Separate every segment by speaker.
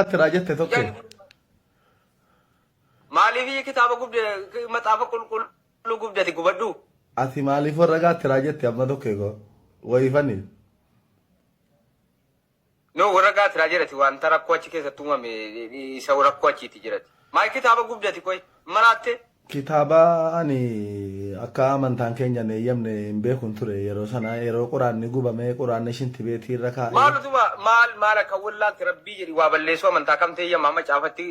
Speaker 1: Attiraa jette tokko. Jan-
Speaker 2: Maaliif kitaaba gubde maxaafa qulqulluu gubdati gubadhu? Ati maaliif
Speaker 1: warra gaattiraa jette amma tokko eegoo. Wayifani.
Speaker 2: No warra gaatiraa jirati wanta rakkoo achi keessatti uumame isa rakkoo achiiti jirati. Maal kitaaba gubdati qoy maraatte Kitaaba
Speaker 1: ani akka amantaan keenya hin eeyyamne hin beekun ture yeroo sana yeroo quraanni gubame quraanni shintibeetii irra kaa'e. Maal utuma maal maal akka
Speaker 2: wallaalte rabbii jedhi waa balleessuu amantaa kamtu eeyyama macaafatti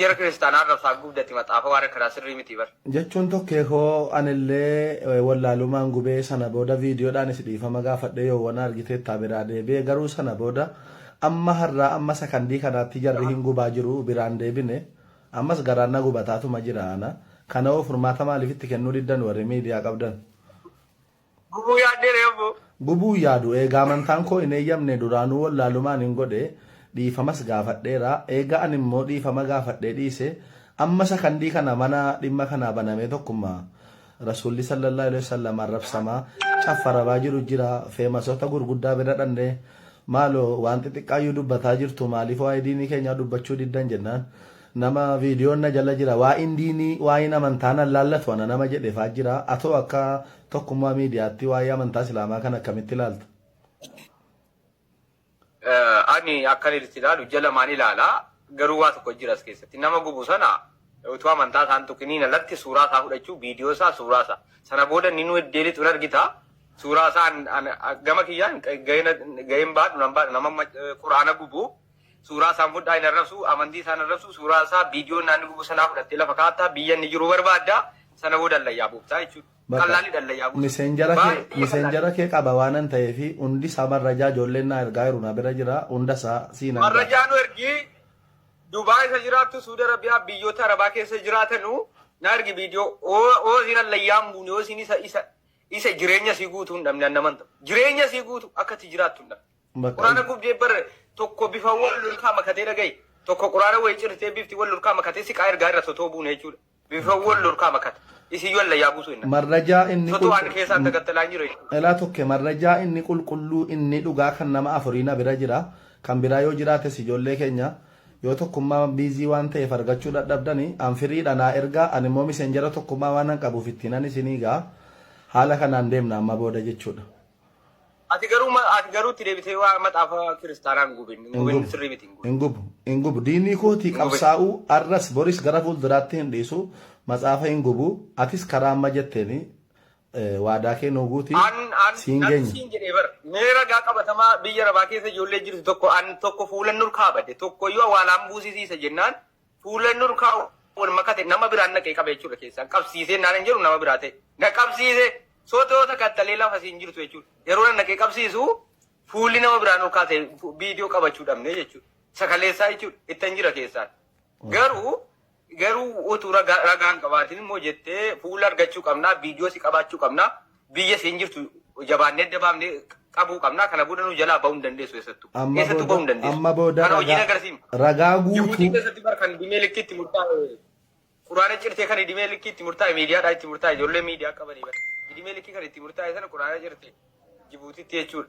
Speaker 2: jara kiristaanaa arrabsaa gubdati maxaafa waan akkanaa sirrii miti bar. Jechuun tokkee koo
Speaker 1: anillee wallaaluumaan gubee sana booda viidiyoodhaanis dhiifama gaafadhee yoowwana argiteettaa biraa deebi'e garuu sana booda amma har'aa amma sakandii kanaatti jarri hin gubaa jiru biraan deebine. Ammas garaan na gubataatuma jira ana kanahoo furmaata maaliif itti kennuu diddan warri miidiyaa qabdan?
Speaker 2: Gubuu yaaddee ree abboo? Gubuu hin yaadu
Speaker 1: eegaa amantaan koo hin eeyyamne duraanuu wallaalumaanin godhe dhiifamas gaafadheera eega ani immoo dhiifama gaafadhee dhiise amma sakandii kana mana dhimma kanaa banamee tokkummaa Rasuulli sallallahu aleyh wasallam arrabsamaa caff arabaa jiru jira feemasota gurguddaa bira dhannee maaloo waan xixiqqaayyuu dubbataa jirtu maaliif waa'ee diinii keenyaa dubbachuu diddan jennaan nama viidiyoon na jala jira waa'een diinii waa'een amantaa nan laallatu ana nama jedhe faa jira atoo akka tokkummaa miidiyaatti waa'ee amantaa islaamaa kan akkamitti ilaalta.
Speaker 2: Ani akkan itti ilaalu ija lamaan ilaala. Garuu waa tokko jira as keessatti. Nama gubu sana utuu amantaa isaan tuqiniin alatti suuraa isaa fudhachuu, viidiyoo isaa, suuraa isaa. Sana booda inni nu eddeelitu hin argita. Suuraa isaa an- an- a- gama kiyyaan gahina- gaheen baadhu nan baadhu nama amma quraana gubu suuraa isaan fudhaa hin arrabsu amantii isaan arrabsu suuraa isaa viidiyoo naanni gubu sanaa fudhattee lafa kaa'atta biyya inni jiru barbaadda sana booda allayyaa buuftaa jechuudha. Baqa. Qallaalli dhalla yaa buusu. Miseenjara kee Baay'ee qallaalli. miseenjara kee qaba
Speaker 1: waanan ta'eefi hundi isaa marrajaa ijoolleen naa ergaa jiru na bira jira hunda isaa siin argaa. Marrajaa nu ergi
Speaker 2: Dubaay isa jiraattu Suudi Arabiyaa biyyoota Arabaa keessa jiraatanu na ergi viidiyoo oo oo siin allayyaa hin buune oo siin isa isa isa jireenya sii guutuu hin dhabne annaman ta'u jireenya sii guutuu akka itti jiraattu hin dhabne. Baqa. Quraana gubdee bar tokko bifa wal lolkaa makatee dhaga'i tokko quraana wayii cirtee bifti wal lolkaa makatee siqaa ergaa irra totoo buune jechuudha. Bifan wol lurkaa makat. Isin yoo Alla yaa buusuu inna. Marrajaa inni Sotu waan
Speaker 1: qulqu keessaan dagattala
Speaker 2: hin jiru. Elaa tokke marrajaa
Speaker 1: inni qulqulluu inni dhugaa kan nama afurii na bira jira kan biraa yoo jiraates ijoollee keenya yoo tokkummaa busy waan ta'eef argachuu dhadhabdani an free dha naa ergaa an immoo misenjera tokkummaa waanan qabuuf ittiinan isinii ga'a haala kanaan deemna amma booda jechuudha. Ati
Speaker 2: garuu ma- ati garuu itti deebitee waa maxaafa kiristaanaa hin gubin. Hin Hin gubin gubu. sirrii miti hin gubin. Hin gubu. Hin gubu.
Speaker 1: Diinii kootii Hin gubin. qabsaa'uu arras boris gara fuulduraatti hin dhiisu. Matsaafa hin gubu. Atis karaa amma jetteen eh, waadaa kee nuu guuti. An an Siin natti geenya. siin jedhee bara. Mee
Speaker 2: ragaa qabatamaa biyya arabaa keessa ijoollee jirtu tokko an tokko fuulan nur kaabadde tokko iyyuu awwaalaan buusisiisa jennaan Fuulleen nurkaa wal makate nama biraan naqee qabe jechuudha keessaan qabsiisee naan hin jedhu nama biraa ta'e na qabsiise sootoo takkattalee lafa siin jirtu jechuudha yeroo na naqee qabsiisu fuulli nama biraa nurkaa ta'e viidiyoo qabachuu dhabnee jechuudha sakaleessaa jechuudha ittan jira keessaan garuu garuu utuu ragaan qabaatiin immoo jettee fuula argachuu qabnaa viidiyoo si qabaachuu qabnaa Biyya siin jirtu jabaannee adda baafnee qabuu qabna. Kana booda nu jalaa bahuu hin dandeessu eessattu. Amma Eessattu bahuu booda hin dandeessu. amma booda Kana hojiin ragaa
Speaker 1: agarsiifna.
Speaker 2: ragaa Jibuutii guutuu
Speaker 1: keessatti bar kan idimee
Speaker 2: likkii itti murtaa'e quraana cirtee kan idimee likkii itti murtaa'e miidiyaadhaa itti murtaa'e ijoollee miidiyaa qabanii bar idimee likkii kan itti murtaa'e sana quraana cirtee Jibuutiitti jechuudha.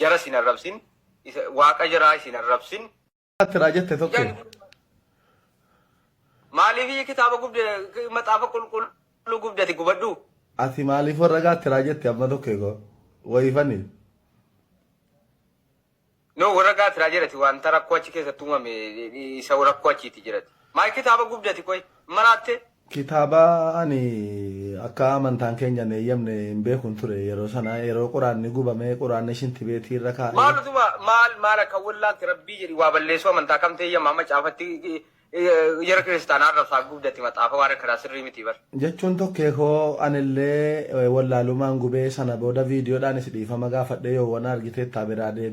Speaker 2: Jara isin arrabsin. Waaqa jaraa isin arrabsin. Tiraa jette
Speaker 1: tokko.
Speaker 2: Maaliif kitaaba gubde maxaafa qulqulluu gubdati gubadhu? Ati maaliif
Speaker 1: warra gaa tiraa jette amma tokko koo. Wayifani.
Speaker 2: No warra gaa tiraa jirati wanta rakkoo achi keessatti uumame isa rakkoo achiiti jirati. Maal kitaaba gubdati qoy maraatte Kitaaba
Speaker 1: ani akka amantaan keenya hin eeyyamne hin beekun ture yeroo sana yeroo quraanni gubame quraanni shinti beetii irra kaa'e. Maal utuma maal maal
Speaker 2: akka wollaalte rabbii jedhi waa balleessuu amantaa kamtu eeyyama macaafatti jara kiristaanaa arrabsaa gubdati maxaafa waan akkanaa sirrii miti bar. Jechuun tokkee koo
Speaker 1: anillee wollaalumaan gubee sana booda viidiyoodhaanis dhiifama gaafadhee yoo wana argiteettaa biraa deebi'i.